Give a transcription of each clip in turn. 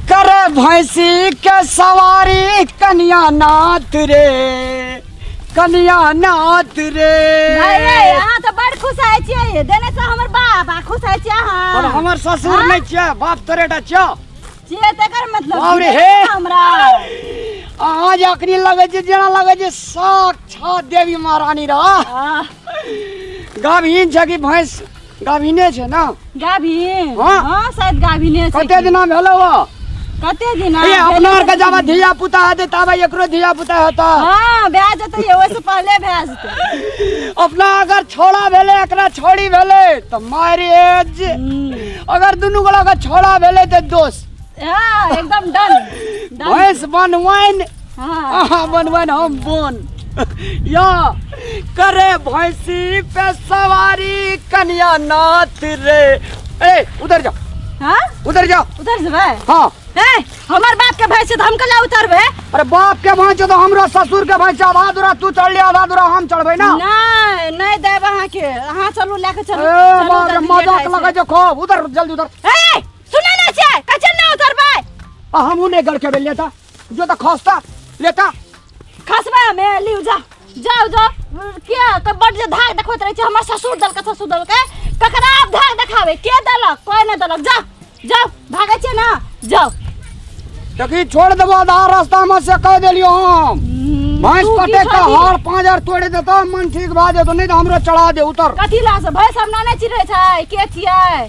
करे भैंसी के सवारी कन्या नाथ रे कन्या नाथ रे अरे अहाँ तऽ बड़ खुश होइ छियै देने से हमर बाप आ खुश होइ छियै पर अहाँ हमर ससुर हाँ? नहीं छिया बाप तोरे टा छिया छियै तकर मतलब बाप रे, हे! हमरा अहाँ जे अखनी लगे छै जेना लगे छै साक्षात देवी महारानी रह आह, गाभिन छै कि भैंस गाभिने छै ने गाभिन हाँ। हाँ शायद गाभिने छै कते दिना भेलौ हँ कते दिन ये अपना आर के जाबे धिया पुता हेतै ताबे एकरो धिया पुता हेतै हाँ भए जेतै ये, ओहिसँ पहले भए जेतै अपना अगर छोड़ा भेलै एकरा छोड़ी भेलै तऽ मारि एज अगर दुनू गोला के छोड़ा भेलै तऽ दोस्त हाँ एकदम डन डन भैंस बनवाइन अहाँ बनबन हम बोन या करे भैंसी पे सवारी कन्या नाथ रे ए उधर जाओ हाँ उधर जाओ उधर जेबै हाँ ए हमर बाप के भैंस छै तऽ हम कला उतरबै अरे बाप के भाई छो तो हमरा ससुर के भाई छो आधा दूरा तू चढ़ ले आधा दूरा हम चढ़बे ना नहि नहि देब अहाँके अहाँ चलू लए कऽ चलू ए चलू, बाप रे जल्दी मजाक लेट लगे भए जो खूब उधर जल्दी उधर जेतै। ए सुनै नहि छै कचन नहि उतरबै आ हमहू ने गड़ के बेलिया था जो तो खस्ता लेटा खसबा में लियो जा जाओ जो के के बड जे धाक देखत रहे छै हमर ससुर दल के ससुर दल के ककरा आप धाक देखावे के दलक कोई न दलक जा जाओ भागे छै ना जाओ देखी छोड़ देबो आधा रास्ता में से कह देलियो हम भैंस तू की कटे का छोड़ी? हार पाँच हजार तोड़ देता मन ठीक भा जेतो नहीं तो हमरो चढ़ा दे उतर कथी ला से भैंस हमरा नहि चिन्है छै के छियै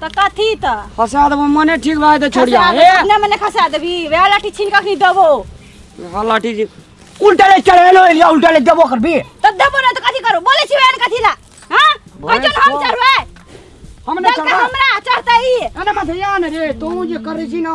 त कथी त फसा देबो मने ठीक भाई त छोड़िया खसा हे अपने मने खसा देबी वएह लाठी छीन के अखनी देबो हल्ला ठीक जी उल्टा ले चढ़े लो एलिया उल्टा ले देबो करबी त देबो ना त कथी करू बोले छी वएह कथी ला हां बोले कैसन हम छो। चढ़बै हमने दल का चढ़ा हमरा चढ़तै ई अरे मत या ने रे तू जे करे छी ना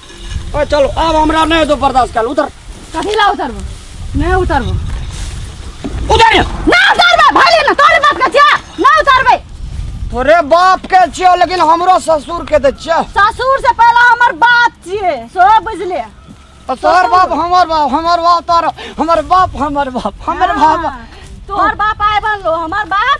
ओ चलो अब हमरा नहीं तो बर्दाश्त कर उतर कथी ला उतरबो नहीं उतरबो उतर ना उतरबे भले ना तोरे बात का छिया ना उतरबे तोरे बाप के छियो लेकिन हमरो ससुर के दे छियो ससुर से पहला हमर बात छिए सो बुझले और तोहर बाप हमर बाप हमर बाप तोहर हमर बाप हमर बाप हमर बाप तोहर बाप आए बनलो हमर बाप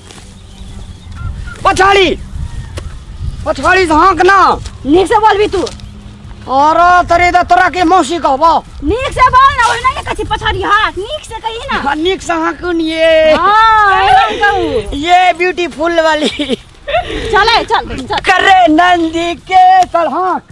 पछाड़ी पछाड़ी से हाँक ना नीक से बोलबी तू अरे तरे दा तोरा के मौसी कहबो नीक से बोल ना ओहिना के कछि पछाड़ी हाथ नीक से कही ना हाँ, नीक से हाँक ये हां एहन कहू ये ब्यूटीफुल वाली चले चल चल करे नंदी के सर हाँक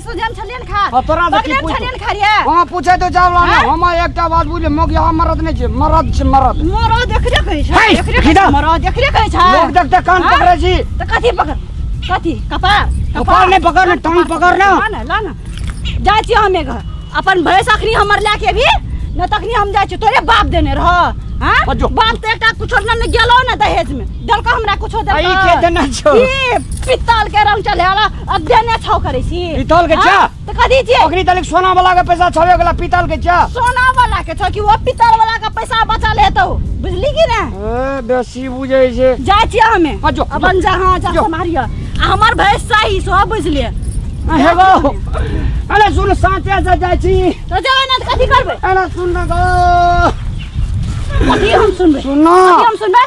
सुजन छलियन खा हाँ, तोरा से की बगले पूछू? छलियन खा रे हाँ पूछे तो जाओ लाना हाँ? हम एक टा बात बुझे मग यहाँ मरद नहीं छे मरद छे मरद मरो देखरे कहै छै है, देखरे कहै खिदा। छै मरो देखरे कहै छै लोग देखते कान हाँ? पकड़े छी त कथी पकड़ कथी कपार कपार नहीं पकड़ ना, टांग पकड़ ना। ला ना ला ना जाइ छी हमे घर अपन भैंस अखनी हमर लए के भी न तखनी हम जाइ छी तोरे बाप देने रह हाँ अजो। बाप त एकटा कुछो न न गेलो न दहेज में देलको हमरा कुछो देलको आई के देना छौ? ई पित्तल के रंग चले वाला अध्ययन छौ करै छी पीतल के छा त कथि छी ओकरी तनिक सोना वाला के पैसा छवे गेला पीतल के छा सोना वाला के छौ कि वो पीतल वाला के पैसा बचल हेतौ बुझली कि ना ए बेसी बुझै छै जाय छी हमे हाँ, जो, अपन जा हां जा जो। सम्हारिय आ हमर भैंस सही सो बुझलिए हे गो अरे सुन साँचे से जाइ छी तो जाय ना त कथि करबै अरे सुन न गो कथि हम सुनबै सुन कथि हम सुनबै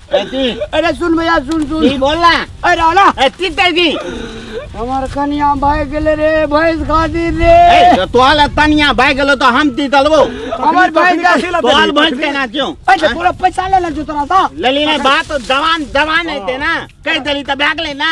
कैसी अरे सुन भैया सुन सुन की बोल ना अरे रावला ए तीन तारीख की हमार कनिया भाई गेले रे भैंस खातिर रे ए तो तोहल तनिया भाई गेलो तो हम ती तलबो हमार भाई जा तो हाल भैंस के ना क्यों अरे पूरा पैसा ले ले जो तोरा सा ले ली ना बात तो जवान जवान है ते ना कह दली तो बैग ले ना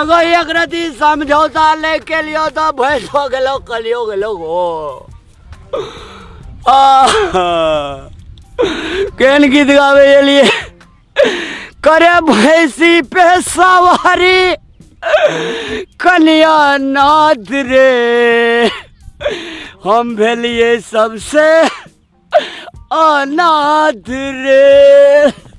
एगो एक रति समझौता ले के लियो तो भैंस हो गेलो कलियो गेलो हो आह, केन गीत गावे ये लिए करे भैंसी पे सवारी कन्या नाथ रे हम भेलिए सबसे अनाथ रे